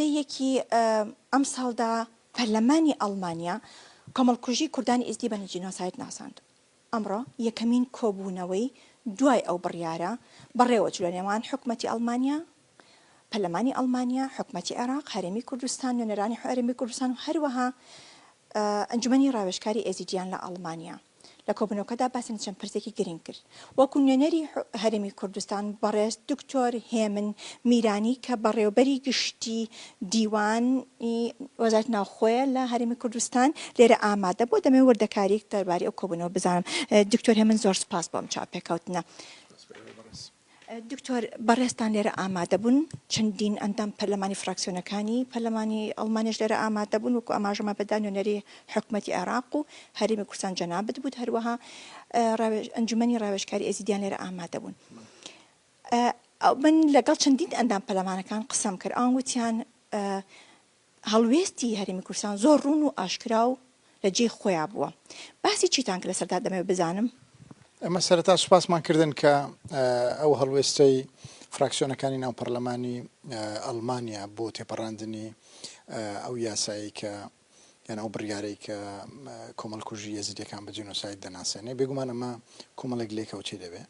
دەیەکی ئەمساڵدا پەرلەمانی ئەڵمانیا کۆمەڵکوژی کوردانی ئیزدی بە جینۆساید ناساند. ئەمڕۆ یەکەمین کۆبوونەوەی دوای ئەو بڕیارە بەڕێوەچوو لە نێوان حکومەتی ئەڵمانیا، پەرلەمانی ئەڵمانیا، حکومەتی عێراق، هەرێمی کوردستان، نوێنەرانی هەرێمی کوردستان و هەروەها ئەنجومەنی ڕاوێژکاری ئێزیدییان لە ئاڵمانیا لە کۆبوونەوکەدا باسی لە چەند پرسێکی گرنگ کرد وەکو نوێنەری هەرێمی کوردستان بەڕێز دکتۆر هێمن میرانی کە بەڕێوبەری گشتی دیوانی وەزارەت ناوخۆیە لە هەرێمی کوردستان لێرە ئامادە بۆ دەمەوێت وردەکاریک دەرباری ئەو کۆبوونەوە بزانم دکتۆر هێمن زۆر سپاس بۆم چاپێکەوتنە. دکتۆر بەڕێزتان لێرە ئامادەبوون چەندین ئەندام پەرلەمانی فراکسیۆنەکانی پەرلەمانی ئەڵمانیش لێرە ئامادەبوون وکو ئاماژەمە بەدا نوێنەری حکوومەتتی عێراق و هەرمی کوردستان جەنابت بوو هەروەها ئەنجومی ڕاوێشکاری ئێزیدیان لێرە ئامادەبوون. من لەگەڵ چەندین ئەندام پەرلەمانەکان قسەم کرد ئەوان وتیان هەڵوێستی هەرێمی کوردستان زۆر ڕوون و ئاشکرا و لە جێی خۆیا بووە. باسی چیتان کرد لەسەردا دەمەوێت بزانم؟ ئێمە سەرەتا سوپاسمان کردن کە ئەو هەڵوێستەی فراکسیۆنەکانی ناو پەرلەمانی ئەڵمانیا بۆ تێپەڕاندنی ئەو یاسایەی کە یان ئەو بڕیارەی کە کۆمەڵکوژی یەزیدیەکان بە جینۆساید دەناسێنێ، بێگومان ئەمە کۆمەڵێک لێکەوتەی دەبێ.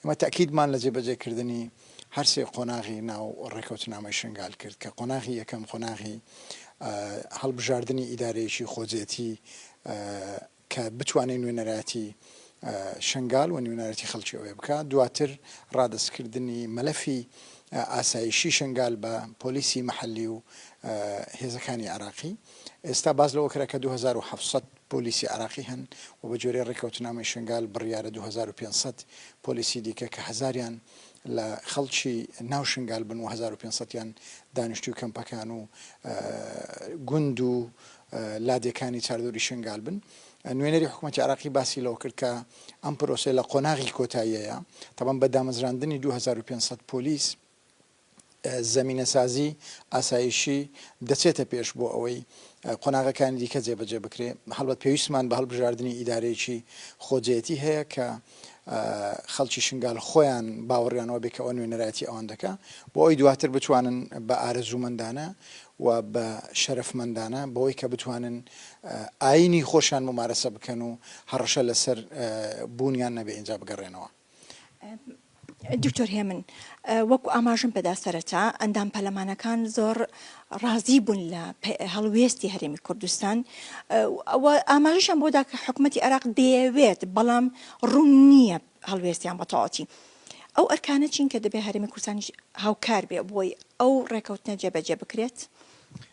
ئێمە تەئکیدمان لە جێبەجێکردنی هەر سێ قۆناغی ناو ڕێکەوتنامەی شنگال کرد کە قۆناغی یەکەم قۆناغی هەڵبژاردنی ئیدارەیەکی خۆجێتی کە بتوانێت نوێنەراتی شنگال و نوێنەرەتی خەڵکی ئەوێ بکات دواتر ڕادستکردنی مەلەفی ئاسایشی شنگال بە پۆلیسی محلی و هێزەکانی عراقی ئێستا باز لەوە کرا کە 2700 پۆلیسی عێراقی هەن و بە گوێرەی ڕێککەوتنامەی شنگال بڕیارە دوو هەزار و پێنج سەد پۆلیسی دیکە کە هەزاریان لە خەڵکی ناو شنگال بن و هەزار و پێنج سەد یان دانیشتووی کەمپەکان و گوند و لادێکانی چاردەوری شنگال بن. نوێنەری حکوومەتی عێراقی باسی لەوە کرد کە ئەم پرۆسەیە لە قۆناغی کۆتاییەیە، تەبەن بە دامەزراندنی دوو هەزار و پێنج سەد پۆلیس، زەمینەسازی ئاسایشی دەچێتە پێش بۆ ئەوەی قۆناغەکانی دیکە جێبەجێ بکرێ، هەڵبەت پێویستمان بە هەڵبژاردنی ئیدارەیەکی خۆجێیەتی هەیە کە خەڵکی شنگال خۆیان باوەڕیان ئەوە بێ کە ئەوە نوێنەرایەتی ئەوان دەکا بۆ ئەوی دواتر بتوانن بە ئارەزوومەندانە و بە شەرەفمەندانە بەوەی کە بتوانن ئاینی خۆشیان ممارەسە بکەن و هەڕەشە لەسەر بوونیان نەبێ ئینجا بگەڕێنەوە. دکتۆر هێمن وەکو ئاماژم پێدا سەرەتا ئەندام پەلەمانەکان زۆر ڕازی بوون لە هەڵوێستی هەرێمی کوردستان ئاماژشان بۆدا کە حکوومەتتی عراق دەیەوێت بەڵام ڕوون نییە هەڵوێستیان بەتەواتی ئەو ئەرکانە چین کە دەبێ هەرێمی کوردستانیش هاوکار بێ بۆی ئەو ڕێکەوتنە جێبەجێ بکرێت.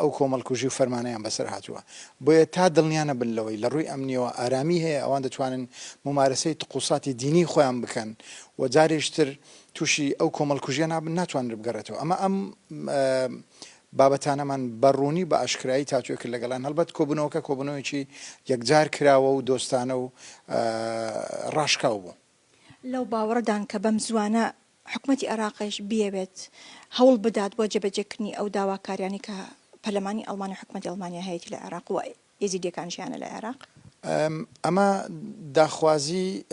ئەو کۆمەڵکوژی و فەرمانەیان بەسەر هاتووە، بۆیە تا دڵنیا نەبن لەوەی لە ڕووی ئەمنییەوە ئارامی هەیە، ئەوان دەتوانن مومارەسەی تقوساتی دینیی خۆیان بکەن و جارێکی تر تووشی ئەو کۆمەڵکوژییە نابن، ناتوانرێت بگەڕێتەوە. ئەمە ئەم بابەتانەمان بە ڕوونی بە ئاشکرایی تاوتوێ کرد لەگەڵیان، هەڵبەت کۆبوونەوەکە کۆبوونەوەیەکی یەکجار کراوە و دۆستانە و ڕاشکاو بوو. لەو باوەڕەدان کە بەمزووانە حکومەتی عێراقیش بیەوێت هەوڵ بدات بۆ جێبەجێکردنی ئەو داواکاریانەی کە پەرلەمانی ئەڵمانی و حکومەتی ئەڵمانیا هەیەتی لە عێراق و ئێزیدیەکانیش هەیانە لە عێراق. ئەمە داخوازیی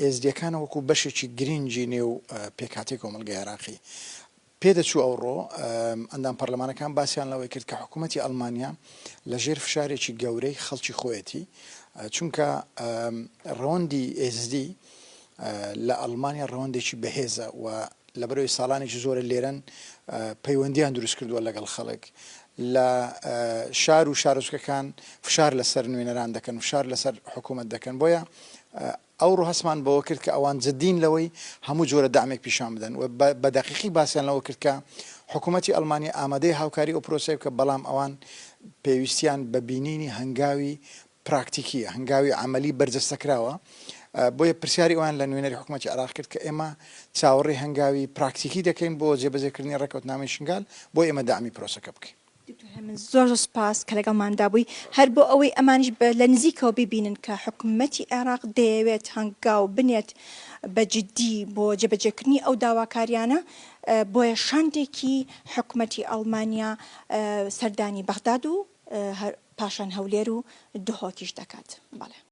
ئێزدیەکانە وەکو بەشێکی گرینگی نێو پێکهاتەی کۆمەڵگەی عێراقی. پێدەچوو ئەوڕۆ ئەندام پەرلەمانەکان باسیان لەوەی کرد کە حکوومەتی ئەڵمانیا لەژێر فشارێکی گەورەی خەڵکی خۆیەتی، چونکە ڕەوەندی ئێزدی لە ئەڵمانیا ڕەوەندێکی بەهێزە و لەبەرئەوەی ساڵانێکی زۆرە لێرەن پەیوەندییان دروست کردووە لەگەڵ خەڵک لە شار و شارۆچکەکان فشار لەسەر نوێنەران دەکەن و فشار لەسەر حکوومەت دەکەن بۆیە ئەوڕۆ هەستمان بەوە کرد کە ئەوان جددین لەوەی هەموو جۆرە دەعمێک پیشان بدەن و بە دەقیقی باسیان لەوە کرد کە حکوومەتی ئەڵمانیا ئامادەی هاوکاری ئەو پرۆسەیە بکە بەڵام ئەوان پێویستیان بە بینینی هەنگاوی پراکتیکییە، هەنگاوی عەمەلی بەرجەستەکراوە، بۆیە پرسیاری ئەویان لە نوێنەری حکوومەتی عێراق کرد کە ئێمە چاوەڕێی هەنگاوی پراکتیکی دەکەین بۆ جێبەجێکردنی ڕێککەوتنامەی شنگال بۆ ئێمە دەعمی پرۆسەکە بکەین. دکتۆر هێمن زۆر زۆر سوپاس کە لەگەڵماندا بووی هەر بۆ ئەوەی ئەمانیش بە لە نزیکەوە ببینن کە حکومەتی عێراق دەیەوێت هەنگاو بنێت بە جدی بۆ جێبەجێکردنی ئەو داواکاریانە بۆیە شاندێکی حکومەتی ئەڵمانیا سەردانی بەغداد و پاشان هەولێر و دهۆکیش دەکات بەڵێ.